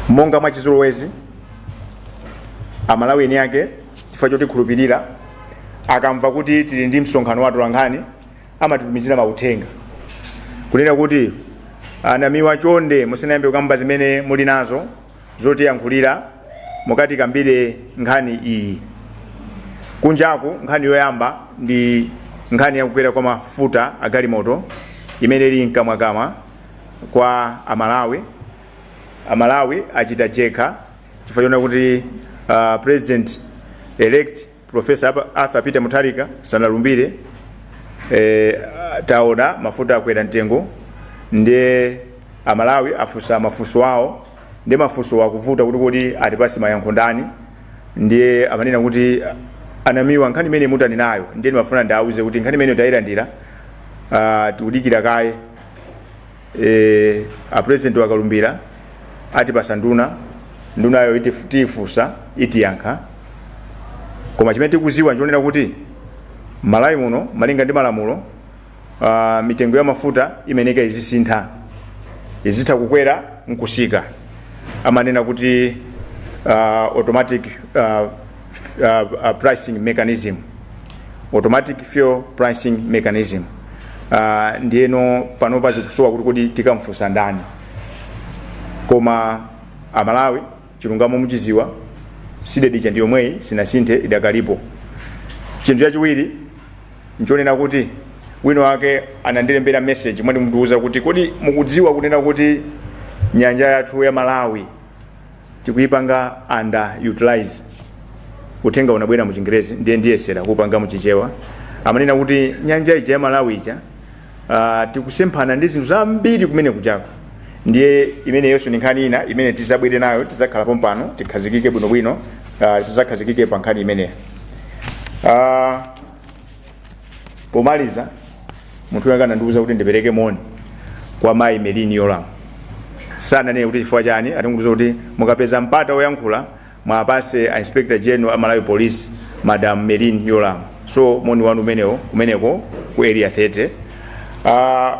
monga mwa chizolowezi amalawi eni ake chifukwa chotikhulupirira akamva kuti tili ndi msonkhano wa atolankhani amatitumizira mauthenga kunena kuti a Namiwa chonde musanayambe kukamba zimene muli nazo zotiyankhulira mukatikambire nkhani iyi kunjaku nkhani yoyamba ndi nkhani yakukwera kwa mafuta a galimoto imene ili mkamwakamwa kwa amalawi amalawi achita jenkha chifukwa chonena kuti uh, president elect Prof. Arthur Peter Mutharika sanalumbire ee taona mafuta akwera mtengo nde amalawi afunsa mafunso awo nde mafunsowo akuvuta kuti kodi atipase mayankho ndani ndiye amanena kuti a Namiwa nkhani imene mutanenayo ndiye ndimafuna ndiauze kuti nkhani imeneyo tayilandira ah, tikudikira kaye e, a president akalumbira atipasa nduna ndunayo itif- tiyifunsa itiyankha koma chimene tikuziwa nchonena kuti malawi muno malinga ndi malamulo uh, mitengo ya mafuta imayeneka izisintha izitha kukwera nkusika amanena kuti uh, automatic uh, uh, uh, pricing mechanism automatic fuel pricing mechanism uh, ndiyeno panopa zikusowa kuti kodi tikamfunsa ndani koma amalawi chilungamo muchiziwa CDEDI ija ndi yomweyi sinasinthe idakalipo chinthu chachiwiri nchonena kuti wina wake anandilembera message amandiuza kuti kodi mukudziwa kunena kuti nyanja yathu ya malawi tikuipanga under utilize uthenga unabwera mu chingerezi ndiye ndiyesera kupanga mu chichewa amanena kuti nyanja ija ya malawi ija uh, tikusemphana ndi zinthu zambiri kumene kujako ndiye imeneyonso ndi nkhani ina imene tizabwere nayo tizakhala pompano tikhazikike bwinobwino uh, tizakhazikike pa nkhani imeneyo uh, pomaliza munthu wanga anandiuza kuti ndipereke moni kwa mayi Merlyne Yolamu sananene kuti chifukwa chani anangondiuza kuti mukapeza mpata woyankhula muwapase a inspector general a malawi police madam Merlyne Yolamu so moni wanu umenewo kumeneko ku area 30 uh,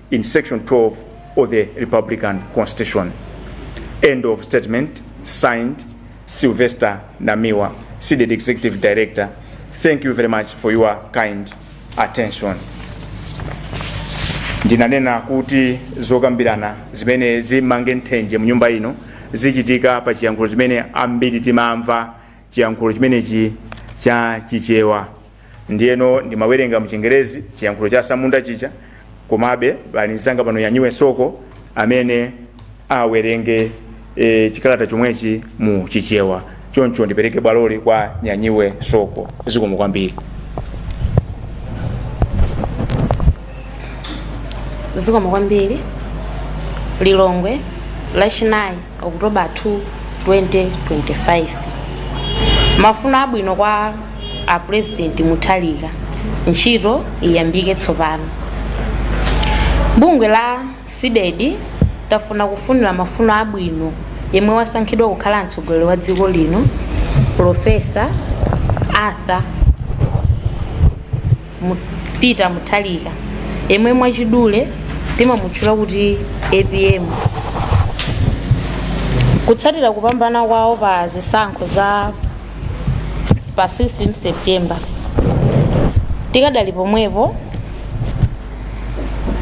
in section 12 of the republican constitution end of statement signed sylvester namiwa CDEDI executive director thank you very much for your kind attention ndinanena kuti zokambirana zimene zimange nthenje mu nyumba ino zichitika pa chiyankhulo chimene ambiri timamva chiyankhulo chimenechi cha chichewa ndiyeno ndimawerenga mchingerezi chiyankhulo cha samunda chija komabe pali mzanga pano nyanyiwe soko amene awerenge e, chikalata chomwechi mu chichewa choncho ndipereke bwaloli kwa nyanyiwe soko zikomo kwambiri zikomo kwambiri lilongwe lachinayi okutoba 2 2025 mafuno abwino kwa a president mutharika ntchito iyambike tsopano bungwe la cdedi tafuna kufunira mafuno abwino yemwe wasankhidwa kukhala mtsogoleri wa dziko lino profesa arthur Mu- Peter Mutharika yemwe mwachidule timamutchula kuti APM kutsatira kupambana kwawo pa zisankho za pa 16 September tikadali pomwepo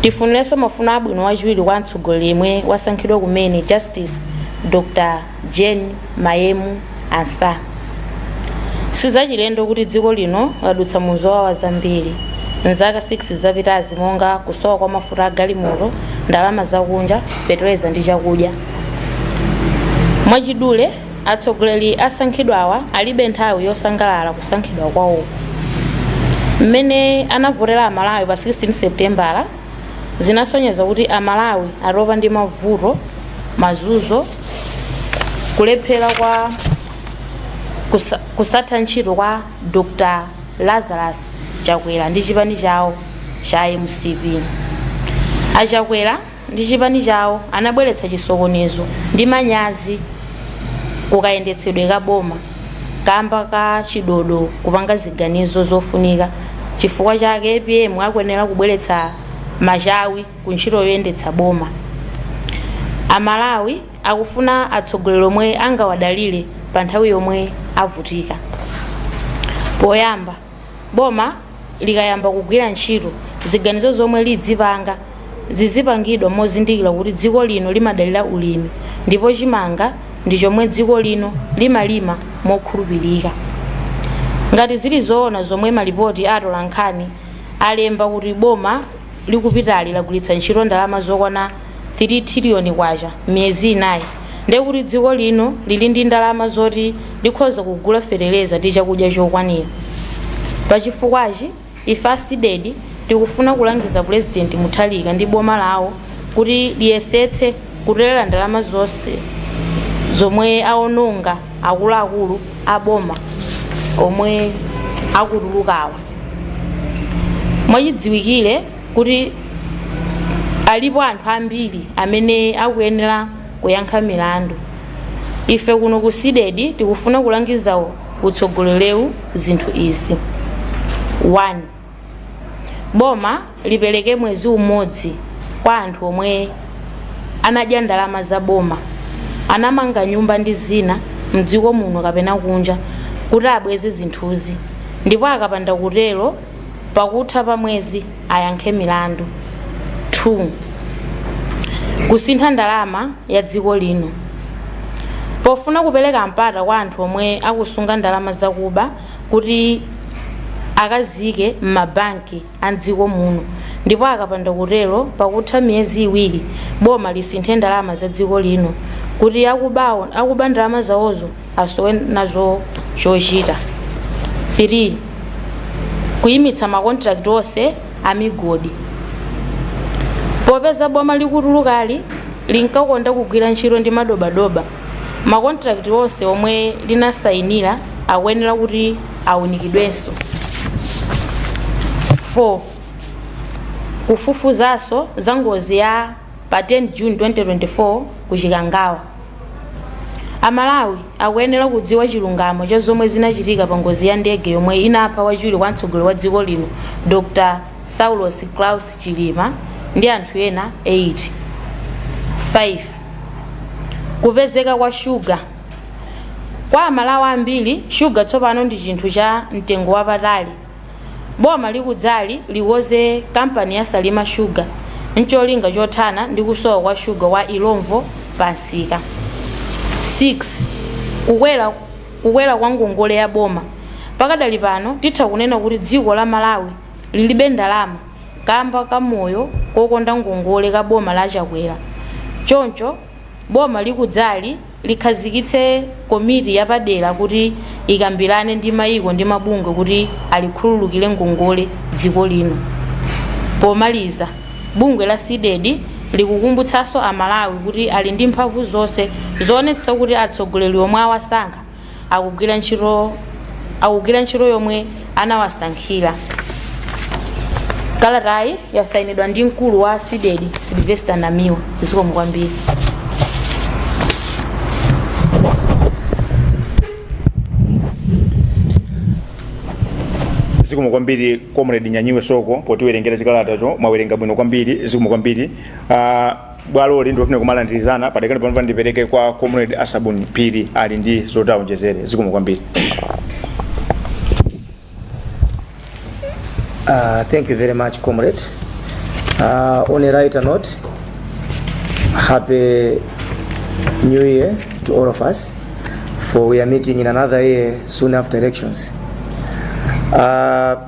tifunirenso mafuno abwino wachiwiri kwa mtsogoleri yemwe wasankhidwa kumene Justice Dr Jane, Mayemu, Ansah. Sizachilendo kuti dziko lino ladutsa mu zowawa zambiri mzaka 6 zapitazi monga kusowa kwa mafuta a galimoto, ndalama zakunja, feteleza ndi chakudya. Mwachidule, atsogoleri asankhidwawa alibe nthawi yosangalala kusankhidwa kwawoku. Mmene anavotera Amalawi pa 16 Seputembala zinasonyeza kuti Amalawi atopa ndi mavuto, mazunzo, kulephera kwa kusa, kusatha ntchito kwa Dr. Lazarus Chakwera ndi chipani chawo cha mcp achakwera ndi chipani chawo anabweretsa chisokonezo ndi manyazi kukayendetsedwe ka boma kamba ka chidodo kupanga ziganizo zofunika chifukwa chake apm akuyenera kubweretsa machawi ku ntchito yoyendetsa boma amalawi akufuna atsogoleri omwe angawadalire pa nthawi yomwe avutika poyamba boma likayamba kugwira ntchito, ziganizo zomwe lidzipanga zizipangidwa mozindikira kuti dziko lino limadalira ulimi ndipo chimanga ndi chomwe dziko lino limalima mokhulupirika. Ngati zili zoona zomwe malipoti atolankhani alemba kuti boma likupitali lagwiritsa ntchito ndalama zokwana K100 3 trillion kwacha miyezi inayi ndiye kuti dziko lino lili ndi ndalama zoti likhoza kugula feteleza ndi chakudya chokwanira pachifukwachi ife a Cdedi tikufuna kulangiza pulezidenti mutharika ndi boma lawo kuti liyesetse kutolela ndalama zonse zomwe aononga akuluakulu a boma omwe akutulukawa mwachidziwikire kuti alipo anthu ambiri amene akuyenera kuyankha milandu ife kuno ku Cdedi tikufuna kulangiza utsogolerewu zinthu izi 1 boma lipereke mwezi umodzi kwa anthu omwe anadya ndalama za boma anamanga nyumba ndi zina mdziko muno kapena kunja kuti abweze zinthuzi ndipo akapanda kutero pakutha pa mwezi ayankhe milandu 2 Kusintha ndalama ya dziko lino Pofuna kupereka mpata kwa anthu omwe akusunga ndalama zakuba kuti akaziike m'mabanki a m'dziko muno ndipo akapanda kutero pakutha miyezi iwiri boma lisinthe ndalama za dziko lino kuti akubawo akuba ndalama zawozo asowe nazo chochita 3 kuyimitsa makontrakiti onse amigodi popeza boma likutulukali linkakonda kugwira ntchito ndi madobadoba makontrakiti onse omwe linasayinira akuyenera kuti awunikidwenso 4 kufufuzanso za ngozi ya pa 10 june 2024 ku chikangawa A Malawi akuyenera kudziwa chilungamo cha zomwe zinachitika pa ngozi ya ndege yomwe inapha wachiwiri kwa mtsogoleri wa dziko lino Dr Saulos Klaus Chilima ndi anthu ena 8. 5, Kupezeka kwa shuga Kwa a Malawi ambiri, shuga tsopano ndi chinthu cha mtengo wapatali. Boma likudzali likoze kampani ya Salima Sugar n'cholinga chothana ndi kusowa kwa shuga wa Illovo pamsika. 6, Kukwera kwa ngongole ya boma Pakadali pano titha kunena kuti dziko la Malawi lilibe ndalama kamba ka moyo wokonda ngongole ka boma la Chakwera choncho boma likudzali likhazikitse komiti yapadera kuti ikambirane ndi mayiko ndi mabungwe kuti alikhululukire ngongole dziko lino. Pomaliza, bungwe la Cdedi likukumbutsanso Amalawi kuti ali ndi mphamvu zonse zoonetsetsa kuti atsogoleri omwe awasankha akugwira ntchito akugwira ntchito yomwe anawasankhira kalatayi yasayinidwa ndi mkulu wa CDEDI Silvester namiwa zikomo kwambiri zikomo kwambiri comrade nyanyiwe soko potiwerengera chikalatacho mwawerenga bwino kwambiri zikomo kwambiri uh, bwaloli ndi lofuna kumalandirizana padakali panopa ndipereke kwa comrade a Sabuni Phiri ali ndi zoti aonjezere zikomo kwambiri Uh, thank you very much, comrade. Uh, on a lighter note, happy new year to all of us, for we are meeting in another year soon after elections. Uh,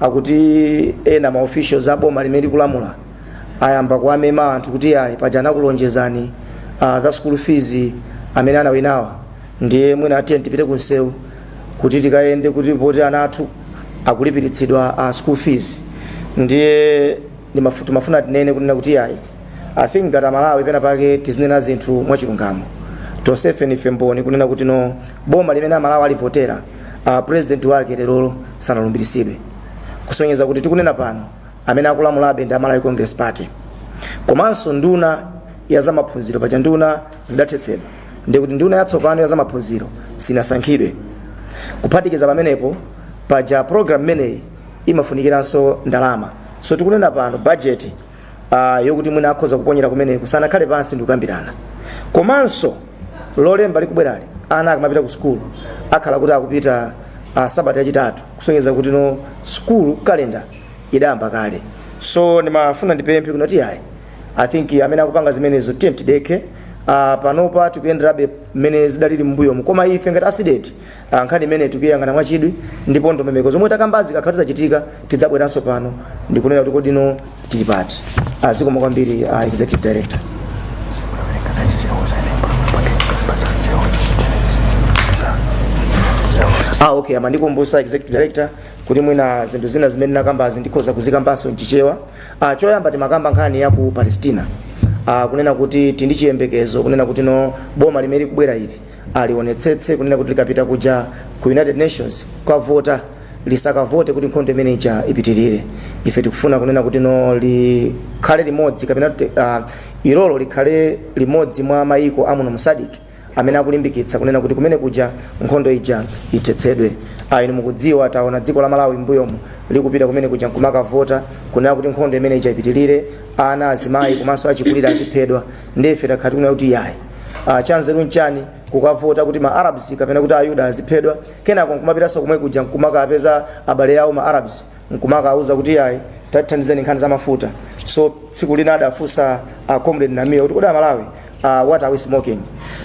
akuti ena ma officials a boma limene likulamula ayamba kuwamema anthu kuti ayi paja anakulonjezani uh, za school fees amene anawinawa ndiye mwina ah tiyeni tipite ku msewu kuti tikayende kuti poti ana athu akulipiritsidwa uh, school fees ndiye Ndimafu- timafuna tinene kunena kuti yayi i think ngati amalawi pena pake tizinena zinthu mwachilungamo tonsefe ndife mboni kunena kuti no boma limene amalawi alivotera uh, president wake lerolo sanalumbiritsidwe kusonyeza kuti tikunena pano amene akulamulabe ndi a Malawi Congress Party komanso nduna ya zamaphunziro paja nduna zidathetsedwa ndi kuti nduna yatsopano ya zamaphunziro sinasankhidwe kuphatikiza pamenepo paja program imeneyi imafunikiranso ndalama so tikunena pano budget uh, yokuti mwina akhoza kuponyera kumeneku sanakhale pansi ndikukambirana komanso lolemba likubwerali ana akamapita ku sukulu akhala kuti akupita uh, sabata yachitatu kusonyeza kuti no sukulu kalenda idayamba kale so ndimafuna ndipemphe kuno kuti ayi i think amene akupanga zimenezo tiyeni tidekhe uh, panopa tikuyenderabe mmene zidalili m'mbuyomu koma ife ngati a CDEDI Ah, nkhani imeneyi tikuyang'ana mwachidwi ndipo ndondomeko zomwe takambazi zikakhala kuti zachitika tidzabweranso pano ndikunena kuti kodi no tili pati Ah, zikomo kwambiri ah, executive director ah, okay amandikumbutsa executive director kuti mwina zinthu zina zimene nakambazi ndikhoza kuzikambanso mchichewa ah, choyamba timakamba nkhani ya ku palestina ah, kunena kuti tili ndi chiyembekezo kunena kuti no boma limene likubwera ili alionetsetse kunena kuti likapita kuja ku united nations kukavota lisakavote kuti nkhondo imeneija ipitirire ife tikufuna kunena kuti no likhale limodzi kapena kuti, ah, ilolo likhale limodzi mwa mayiko a muno mu SADC amene akulimbikitsa kunena kuti kumene kuja nkhondo ija ithetsedwe Ah, inu mukudziwa taona dziko la malawi mbuyomu likupita kumene kuja nkumakavota kunena kuti nkhondo imeneija ipitirire ana azimayi komanso achikulire aziphedwa ndiye ife takhala tikunena kuti yayi uh, chanzeru n'chani kukavota kuti ma arabs kapena kuti ayuda aziphedwa kenako nkumapitanso komwe kuja nkumakapeza abale awo ma arabs nkumakauza kuti yayi tathandizeni nkhani za mafuta so tsiku lina adafunsa uh, comrade Namiwa kuti kodi amalawi uh, what are we smoking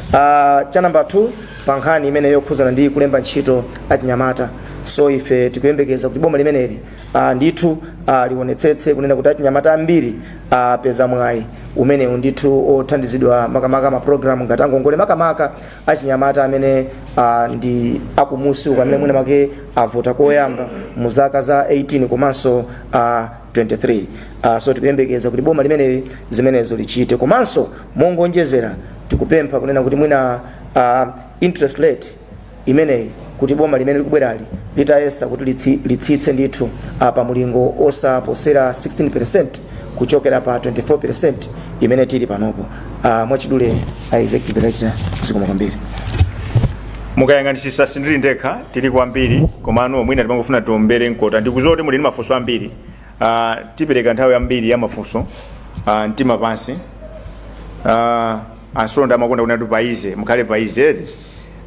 uh, cha number 2 pa nkhani imeneyi yokhuzana ndi kulemba ntchito achinyamata so ife tikuyembekeza kuti boma limeneli uh, ndithu uh, lionetsetse kunena kuti achinyamata ambiri apeza mwayi umenewu ndithu othandizidwa makamaka mapulogalamu ngati angongole makamaka achinyamata amene ah, ndi akumusi uko amene mwina make avota koyamba mu zaka za 18 komanso ah, 23 Ah, so tikuyembekeza kuti boma limeneli zimenezo lichite komanso mongonjezera tikupempha kunena kuti mwina ah, interest rate imeneyi kuti boma limene likubwerali litayesetsa kuti litsi, litsitse ndithu ah, pa mulingo osaposera 16 kuchokera pa 24 imene tili panopo Ah, mwachidule a executive director zikomo kwambiri mukayang'anitsitsa sindili ndekha tili ambiri komano mwina timangofuna tiombere mkota ndikuziwa kuti muli ndi mafunso ambiri uh, tipereka nthawi yambiri ya mafunso uh, mtima pansi uh, ansonda amakonda kunena kuti paize mukhale paize eti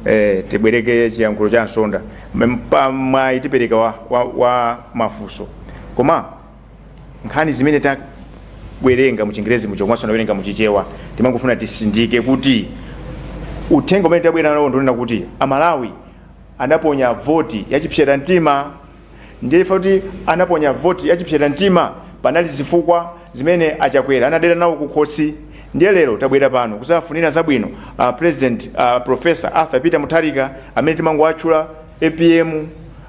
eh, tibwereke chiyankhulo cha nsonda Mpata mwayi tipereka wa, wa, wa mafunso koma nkhani zimene tawerenga mu chingerezi muja komanso tawerenga mu chichewa timangofuna titsindike kuti uthenga umene tabwera nawo ndiwonena kuti amalawi anaponya voti yachipsera mtima Ndiye chifukwa choti anaponya voti ya chipsera mtima panali zifukwa zimene a Chakwera anadera nawo kukhosi. Ndiye lero tabwera pano kuzawafunira zabwino a President a Prof. Arthur Peter Mutharika amene timangowatchula apm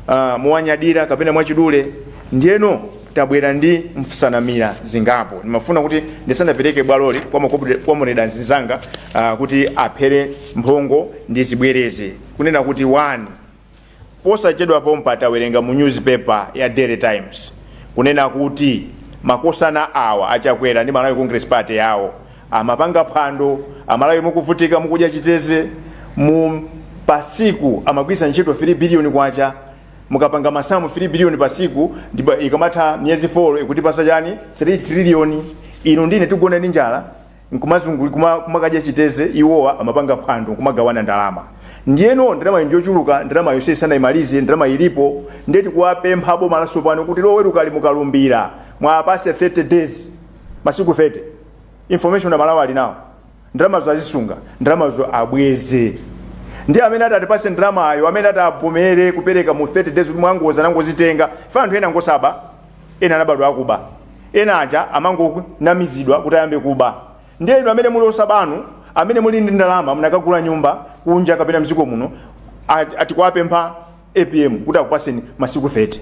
ah, mowanyadira kapena mwachidule. Ndiyeno tabwera ndi msanamira zingapo. Ndimafuna kuti ndisanapereke bwaloli kwa makomredi kwa makomredi anzanga ah, kuti aphere mphongo ndizibwereze kunena kuti wani Posachedwa pompa tawerenga mu news paper ya daily times kunena kuti makosana awa a Chakwera ndi Malawi Congress Party yawo amapanga phwando amalawi mukuvutika mukudya chitedze mu pa tsiku amagwiritsa ntchito 3 billion kwacha mukapanga masamu 3 billion pa tsiku ndipo ikamatha miyezi 4 ikutipasa chani 3 trillion inu ndi ine tikugona ndi njala nkumazungulira kuma kumakadya chitedze iwowa amapanga phwando nkumagawana ndalama ndiyeno ndalama njochuluka ndalama yonse sanayimalize ndalama ilipo nde tikuwapempha boma latsopano kuti lowerukali mukalumbira muwapase 30 days masiku 30 information amalawi ali nayo ndalamazo azisunga ndalamazo abweze ndiye amene ati atipase ndalamayo amene ati abvomere kupereka mu 30 days kuti mwadzidza tinangozitenga ife anthu ena ngosauka Ena anabadwa akuba. Ena aja amangonamizidwa kuti ayambe kuba. Ndiye inu amene muli osaba inu, amene muli ndi ndalama munakagula nyumba kunja kapena mziko muno atikuwapempha apm kuti akupaseni masiku 30.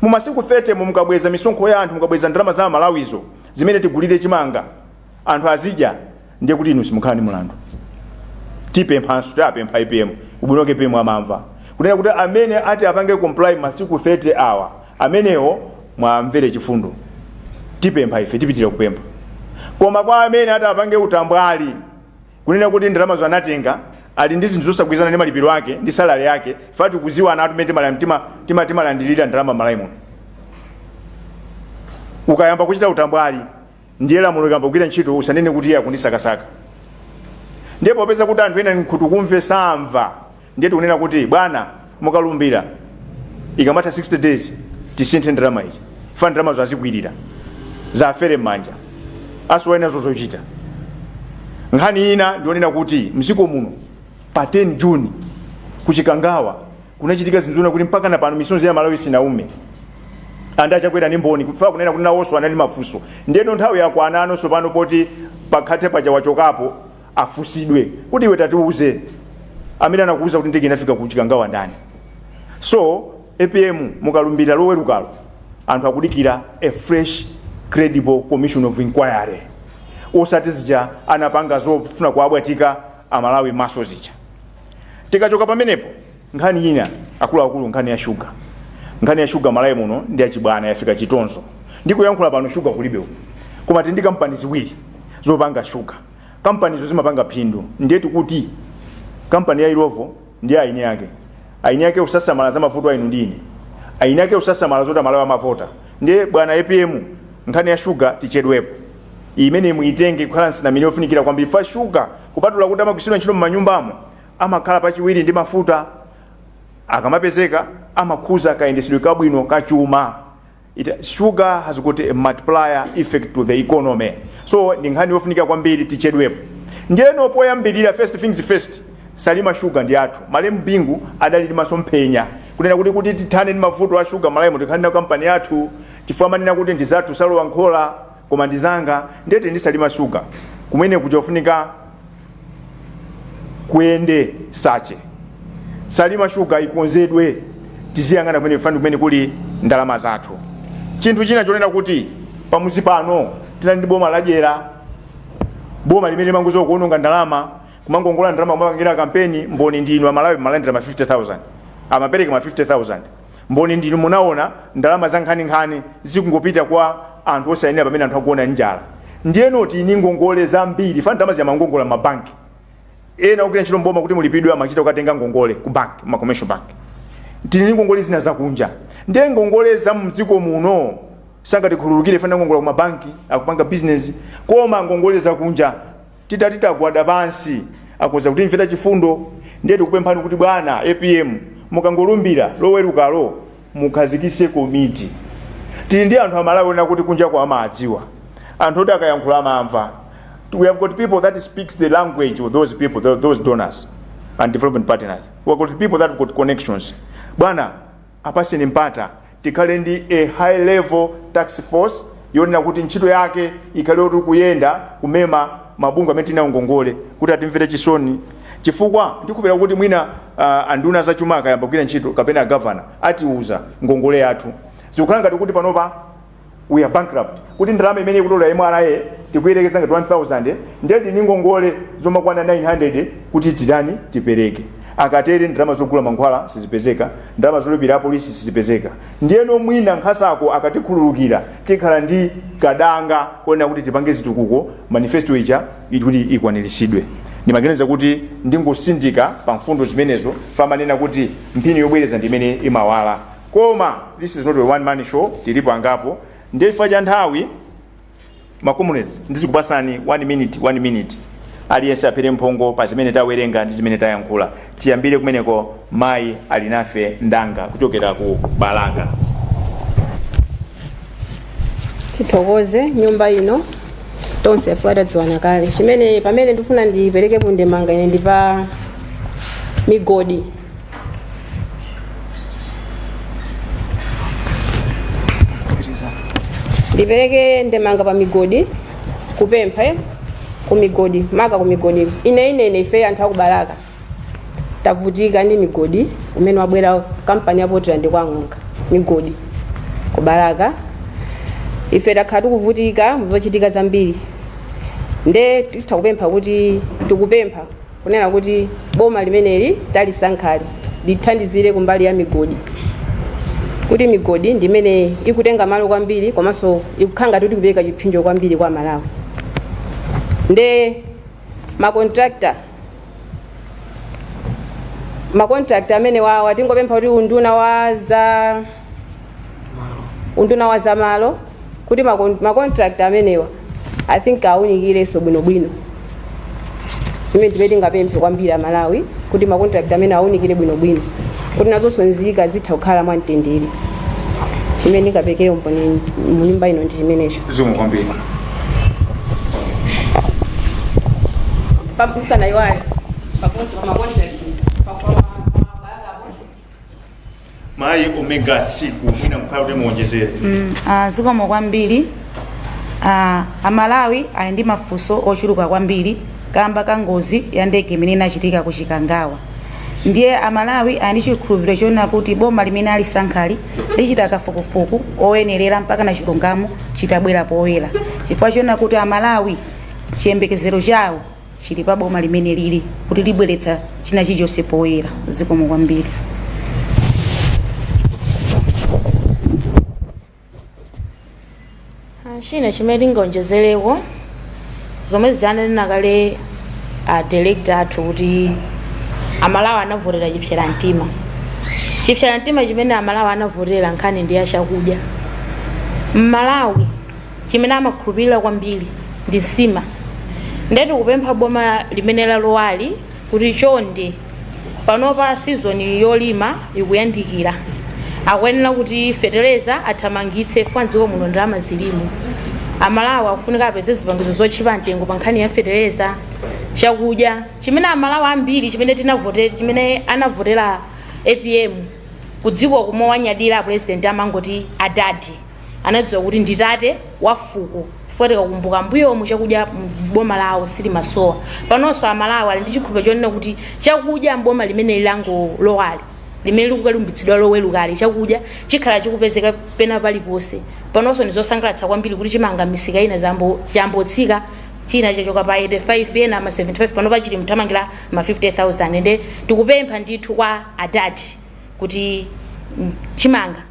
Mu masiku 30 mo mukabweza misonkho ya anthu, mukabweza ndalama za amalawizo zimene tigulire chimanga anthu azidya. ndiye kuti inu simukhala ndi mulandu tipemphanso tapempha apm ubwino wake apm amamva kunena kuti amene atapange comply masiku 30 awa amenewo muwamvere chifundo tipempha ife tipitire kupempha koma kwa amene atapange utambwali kunena kuti ndalamazo anatenga ali ndi zinthu zosagwirizana ndi malipiro ake ndi salari yake ife tikuziwa momwe timala- tima- tima- timalandirira ndalama malawi muno ukayamba kuchita utambwali ndiye lamulo liyamba kugwira ntchito usanene kuti iye akundisakasaka ndiye popeza kuti anthu ena nkhutu kumve samva ndiye tikunena kuti bwana mukalumbira ikamatha 60 days tisinthe ndalama cifukwa ndalamazo azikwirira za ziwafere m'manja asowe nazo zochita nkhani ina ndi yonena kuti mdziko muno pa 10 juni kuchikangawa kunachitika zinthu zina kuti mpaka na pano misonzi ya amalawi sinaume and achakwera ni mboni chifukwa kunena kuti nawonso ali ndi mafunso ndiyeno nthawi yakwana panopa poti pakhale paja achokapo afusidwe kuti iwe tatiuze amene anakuuza kuti ndege inafika kuchikangawa ndani so apm mukalumbira loweruka lo anthu akudikira a fresh credible commission of inquiry osati zija anapanga zofuna kuwaphatika amalawi maso zija tikachoka pamenepo nkhani ina akuluakulu nkhani ya shuga nkhani ya shuga malawi muno ndi yachibwana yafika chitonzo ndikuyankhula pano shuga kulibe koma tili ndi kampani ziwiri zopanga shuga kampanizo zimapanga phindu ndiye ndikuti kampani ya illovo ndi eni ake eni ake osasamala za mavuto a inu ndi ine eni ake osasamala zoti amalawi amavota ndiye bwana apm nkhani ya shuga tichedwepo imeneyi muitenge kukhala nsanamira yofunikira kwambiri chifukwa shuga kupatula kuti amagwiritsidwa ntchito m'manyumbamo amakhala pachiwiri ndi mafuta akamapezeka amakhuza kayendesedwe kabwino ka chuma It, sugar has got a multiplier effect to the economy so ndi nkhani yofunika kwambiri tichedwepo ndiyeno poyambirira first things first salima shuga ndi yathu malemu bingu adali ndi masomphenya kunena kuti kuti tithane ndi mavuto a shuga malawi muno tikhale na kampani yathu chifukwa amanena kuti ndizathu sizilowa nkhola koma ndizanga ndiye ndi salima shuga kumene kukufunika kuyende search salima shuga ikonzedwe tiziyang'ana kumeneko chifukwa ndi kumene kuli ndalama zathu chinthu china chonena kuti pamudzi pano tinali ndi boma ladyera boma limene limangodziwa kuononga ndalama kumangongola ndalama kumapangira kampeni mboni ndinu amalawi mwalandira ma 50000 amapereka ma 50000 Mboni ndi inu munaona ndalama za nkhaninkhani zikungopita kwa anthu osayenera pamene anthu akuona njala. Ndiyeno tili ndi ngongole zambiri fana ndalama zija amangongola mabanki. Ena ogwira ntchito m'boma kuti mulipidwe amachita kukatenga ngongole ku banki, kuma commercial bank. Tili ndi ngongole zina zakunja. Ndiye ngongole za mdziko muno sangatikhululukire fana ndi ngongole za ku mabanki akupanga bizinezi koma ngongole zakunja. Titati tagwada pansi akhoza kutimvera chifundo ndiye tikupemphani kuti bwana apm mukangolumbira lowerukalo mukhazikise komiti tili ndi anthu amalawi onena kuti kunjako amaadziwa anthu oti akayankhula amamva we have got people that speaks the language of those people tho- those donors and development partners we have got people that have got connections bwana Apatseni mpata tikhale ndi a high level task force yonena kuti ntchito yake ikhale yoti kuyenda kumema mabungwe amene tili nawo ngongole kuti atimvere chisoni chifukwa ndikhulupirira kuti mwina uh, anduna za chuma akayamba kugwira ntchito kapena agavana atiuza ngongole yathu zikukhala ngati kuti panopa we are bankrupt kuti ndalama imene ikutolera mra tikuyerekeza ngati 1000 ndiye tili ndi ngongole zomakwana 900 kuti titani tipereke akatere ndalama zogula mankhwala sizipezeka ndalama zolipira apolisi sizipezeka ndiyeno mwina nkhasakonkhasako akatikhululukira tikhala ndi kadanga konena kuti tipange zitukuko manifesto ija kuti ikwaniritsidwe ndimaganiza kuti ndingosindika pa mfundo zimenezo famanena kuti mphini yobwereza ndi imene imawala koma this is not a one man show tilipo angapo ndiye chifukwa cha nthawi makomrades ndizikupasani 1 minute 1 minute aliyense aphere mphongo pa zimene tawerenga ndi zimene tayankhula tiyambire kumeneko mayi ali nafe mnzanga kuchokera ku balaka tithokoze nyumba ino tonse chifukwa tadziwana kale chimene pamene ndifuna ndiperekepo ndemanga ine ndi pa migodi ndipereke ndemanga pa migodi kupempha eh? ku migodi maka ku migodi ine ine ine ife anthu akubalaka tavutika ndi mgodi umene wabwera kampani ya portland kwa Ng'onga migodi kubalaka ife takhala tikuvutika muzochitika zambiri nde tikupempha kuti tikupempha kunena kuti boma limeneli talisankhali lithandizire kumbali ya migodi kuti migodi ndi imene ikutenga malo kwambiri komanso ikukhala ngati kuti ikupereka chipsinjo kwambiri kwa malawi nde makontrakta makontrakta amenewawa tingopempha kuti unduna wa za unduna wa zamalo kuti makon- macontract amenewa i think awunikirenso bwinobwino zimene zimene tingapemphe kwambiri aMalawi kuti macontract amenewa awunikire bwinobwino kuti nazonso nzika zitha kukhala mwa mtendere chimene ndingaperekere umboni munyumba ino ndi chimenecho zikomo kwambiri pamsana iwayo pakonto pamakontrakt mayi omega tsiku mwina nkhala kuti muonjezere Mm, ah, zikomo kwambiri Ah, amalawi ali ndi mafunso ochuluka kwambiri kamba ka ngozi ya ndege imene inachitika ku chikangawa ndiye amalawi ali ndi chikhulupiriro chonena kuti boma limene alisankhali lichita kafukufuku oyenerera mpaka na chilungamo chitabwera poyera chifukwa chonena kuti amalawi chiyembekezero chawo Chili pa boma limene lili kuti libweretsa china chilichonse poyera. Zikomo kwambiri. Ah, china chimene tingaonjezereko zomwezi anena kale a director athu kuti amalawi anavotera chipsera mtima chipsera mtima chimene amalawi anavotera nkhani ndi ya chakudya mmalawi chimene amakhulupilira kwambiri ndi nsima nde tikupempha boma limene lalowali kuti chonde panopa season yolima ikuyandikira akuyenera kuti fetereza athamangitse chifukwa mdziko muno ndalama zilimo amalawi akufunika apeze zipangizo zotchipa mtengo pa nkhani ya fetereza chakudya chimene amalawi ambiri chimene tinavotera chimene anavotera apm kudziwa kumawanyadira a president amangoti adadi anadziwa kuti ndi tate wa fuko chifukwa tikakumbuka mbuyomu chakudya mboma lawo sichimasowa panonso amalawi ali ndi chikhulupiriro chonena kuti chakudya mboma limene langolowali limene likukalumbitsidwa lowerukali chakudya chikhala chikupezeka pena paliponse panonso ndizosangalatsa kwambiri kuti chimanga misika ina zambo- chayamba kutsika china chachoka pa 85 ena ma 75 pano chikuthamangira ma 50000 ende tikupempha ndithu kwa adadi kuti mm, chimanga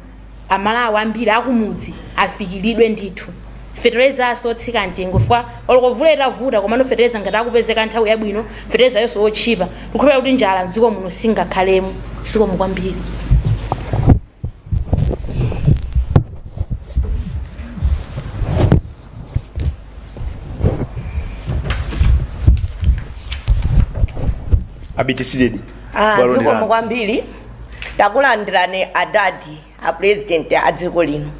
amalawi ambiri akumudzi afikiridwe ndithu feterezanso otsika mtengo chifukwa olo mvula itavuta komano fetereza ngati akupezeka nthawi yabwino feterezayonso otchipa tikukhulupirira kuti njala mdziko muno singakhalemo zikomo kwambiri abiti sidedi Ah, Bwalo zikomo lilani. kwambiri takulandirani adadi a president a dziko lino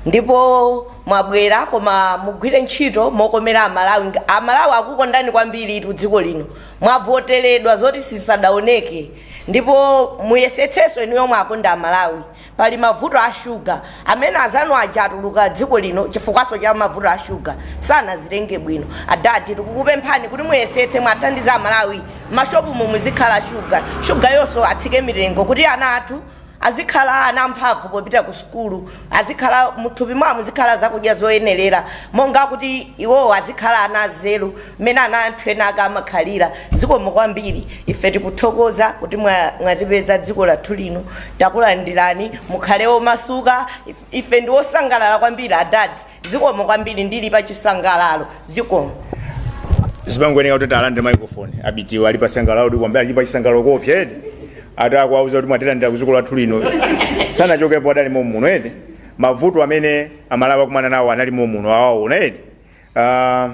ndipo mwabwera koma mugwire ntchito mokomera amalawi Nga- amalawi akukondani kwambiri itu dziko lino mwavoteredwa zoti sizidaoneke ndipo muyesetsenso inu yomwe akondeni amalawi Pali mavuto a sugar amene azanu aja atuluka dziko lino chifukwaso cha mavuto a sugar sanaziyendetse bwino adadi tikukupemphani kuti muyesetse muwathandize aMalawi mmashopumu muzikhala sugar sugar yoso atsike mitengo kuti ana athu azikhala ana amphavu popita ku sukulu azikhala muthupi mwawo muzikhala zakudya zoyenelera monga kuti iwowo azikhala ana azeru mmene ana a anthu ena ake amakhalira zikomo kwambiri ife tikuthokoza kuti mwatipeza dziko lathu lino Takulandirani, mukhale omasuka. Ife ndi osangalala kwambiri adadi. Zikomo kwambiri, ndili pa chisangalalo. Zikomo. Ndipongoyenera kuti talandire microphone Abiti wo ali pachisangalalo kuti kwambiri ali pachisangalalo koopsa eti ati akuwauza kuti mwatilandira kuziko lathu lino sanachokepo adali momuno eti mavuto amene amalawi akumana nawo anali momuno awaona eti Ah,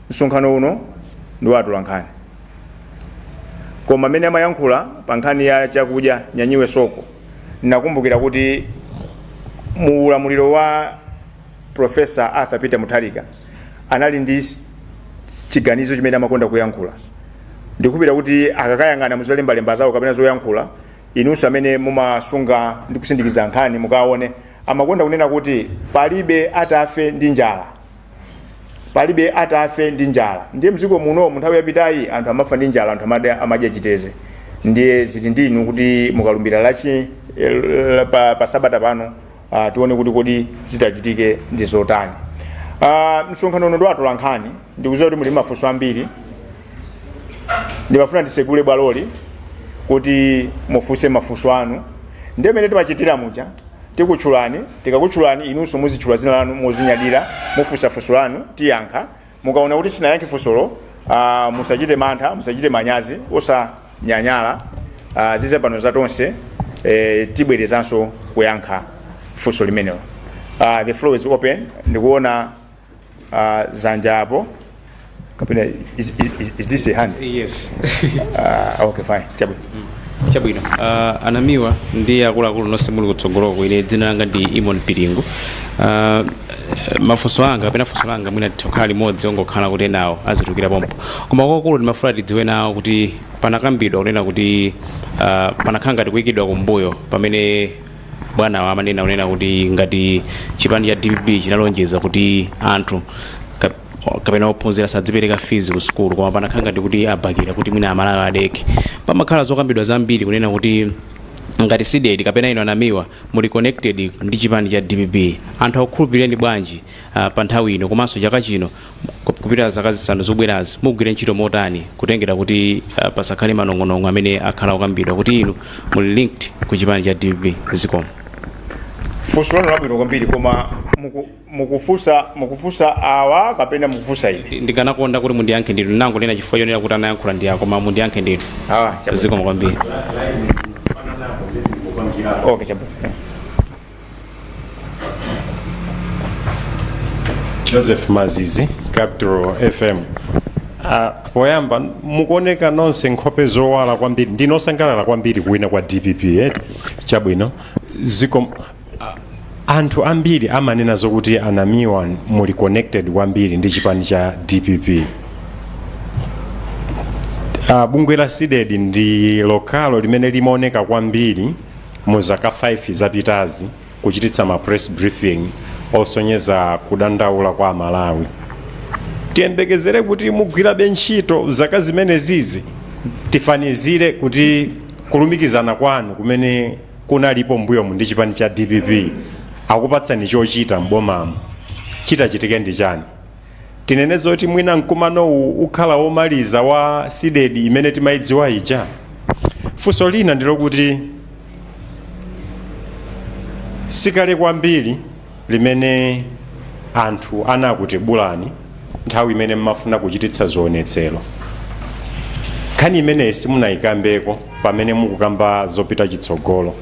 msonkhano uno ndi wa atolankhani koma amene amayankhula pa nkhani ya chakudya nyanyiwe soko nakumbukira kuti mu ulamuliro wa profesa arthur peter mutharika anali ndi s- chiganizo chimene amakonda kuyankhula ndikhulupira kuti akakayang'ana muzolembalemba zawo kapena zoyankhula inunso amene mumasunga ndi kusindikiza nkhani mukaone Amakonda kunena kuti, Palibe atafe ndi njala. Palibe atafe ndi njala. Ndiye mdziko muno mu nthawi yapitayi anthu amafa ndi njala, anthu amadya, amadya chiteze. Ndiye zili ndi inu kuti akalumbira la chi eh, pa, pa sabata pano ah, tione kuti kodi zitachitike ndi zotani. Ah, msonkhano uno ndi wa atolankhani ndikuziwa kuti muli mafunso ambiri ndimafuna ndisegule bwaloli kuti mufunse mafunso anu ndi mmene timachitira muja tikutchulani tikakutchulani inunso muzitchula zina lanu mozinyadira mufunsa funso lanu tiyankha mukaona kuti sinayankhe funsolo ah, musachite mantha musachite manyazi osanyanyala ah, zize pano za tonse eh, tibwerezanso kuyankha funso limenelo Ah, the floor is open ndikuona Ah, zanja apo kapena is, is, is, is this a hand yes Ah, okay fine chabwino chabwino uh, anamiwa ndi akuluakulu nonse muli kutsogoloko ine dzina langa ndi imon pilingu uh, mafunso anga kapena funso langa mwina litha kukhala limodzi ongokhala kuti enawo azitulukira pompo koma kwakulu ndimafuna tidziwe nawo kuti panakambidwa kunena kuti uh, panakhala ngati kuyikidwa kumbuyo pamene bwanawa amanena kunena kuti ngati chipani cha dpp chinalonjeza kuti anthu kap- kapena ophunzira samadzipereka fees ku sukulu koma panakhala ngati kuti abakira kuti mwina amalawi adekhe pamakhala zokambidwa zambiri kunena kuti ngati CDEDI kapena inu a Namiwa muli connected ndi chipani cha dpp anthu akukhulupirireni bwanji uh, pa nthawi ino komanso chaka chino kupitila zaka zisanu zikubwerazi mugwire ntchito motani kutengera kuti uh, pasakhale manong'onong'o amene akhala okambidwa kuti inu muli linked ku chipani cha dpp zikomo funso lanu labwino kwambiri koma muku- mukufunsa mukufunsa awa kapena mukufunsa ine Ndi- ndikanakonda kuti mundiyankhe ndinu nanga lina chifukwa chonena kuti anayankhula ndi ako koma mundiyankhe ndinu Ah, chabwino. zikomo kwambiri okay chabwino joseph mazizi capital fm Ah, poyamba mukuoneka nonse nkhope zowala kwambiri ndinosangalala kwambiri kuwina kwa dpp eh? chabwino zikomo ah, anthu ambiri amanena zokuti a Namiwa muli connected kwambiri ndi chipani cha dpp ah, bungwe la Cdedi ndi lokalo limene limaoneka kwambiri mu zaka 5 zapitazi kuchititsa ma press briefing osonyeza kudandaula kwa Amalawi. Tiyembekezere kuti mugwirabe ntchito zaka zimenezizi, tifanizire kuti kulumikizana kwanu kumene kunalipo mbuyomu ndi chipani cha dpp akupatsani chochita m'bomamo chitachitike ndi chani? Tinene zoti mwina mkumanowu ukhala womaliza wa Cdedi imene timaidziwa ija? Funso lina ndilokuti sikale kwambiri limene anthu anakutibulani nthawi imene mmafuna kuchititsa zionetsero. Nkhani imeneyi simunaikambeko pamene mukukamba zopita chitsogolo.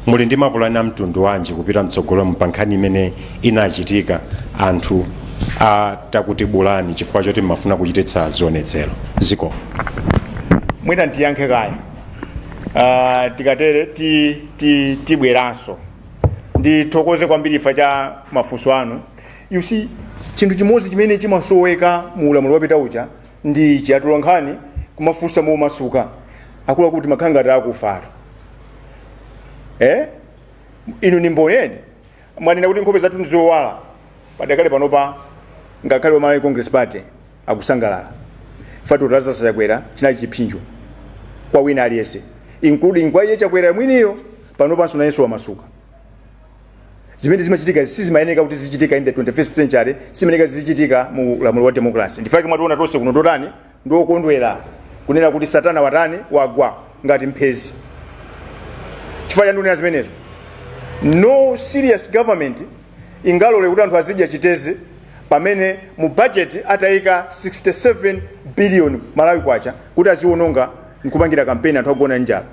Muli ndi mapulani a mtundu wanji kupita mtsogolomu pa nkhani imene inachitika anthu atakutibulani chifukwa choti mmafuna kuchititsa zionetsero? Zikomo. Mwina ndiyankhe kaye. Ah, tikatere ti, ti, tibweranso. Ndithokoze kwambiri chifukwa cha mafunso anu. You see, chinthu chimodzi chimene chimasoweka mu ulamuliro wapita uja ndi ichi atolankhani kumafunsa momasuka akuluakulu timakhala ngati akufatu eh? inu ni mboni mwanena kuti nkhope zathu ndizowala padakali panopa ngakhale wa Malawi congress party akusangalala chifukwa cha Lazarus chakwera chinali chipsinjo kwa wina aliyense including kwa iye chakwera mwiniyo panopanso nayenso wamasuka zimene zimachitika sizimayeneka kuti zizichitika in the 21st century simayeneka zizichitika mu ulamuliro wa democracy nchifukwa chake mwationa tonse kuno ndotani ndiokondwera kunena kuti satana watani wagwa ngati mphezi chifukwa chandionera zimenezo no serious government ingalole kuti anthu azidya chiteze pamene mu budget ataika 67 billion malawi kwacha kuti aziwononga nkupangira kampeni anthu akugona njala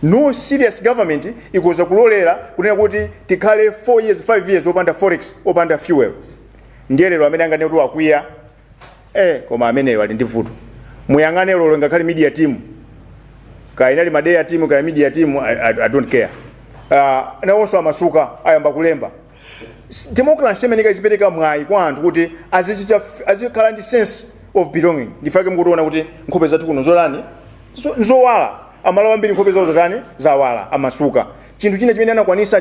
No serious government ikoza kulolera kunena kuti tikhale 4 years 5 years opanda forex opanda fuel ndiye lero amene anganene kuti wakwiya eh koma ameneyo ali ndi vuto muyang'ane lero ngakhale media team kaya inali Madea team kaya media team I, I, i don't care uh, nawonso amasuka ayamba kulemba S- democracy imeneyi izipereka mwayi kwa anthu kuti azichita f- azikhala ndi sense of belonging n'chifukwa chake mukutiona kuti nkhope zathu kuno n'zotani zo- nzowala amalawi ambiri nkhope zawo zatani zawala amasuka chinthu china chimene anakwanitsa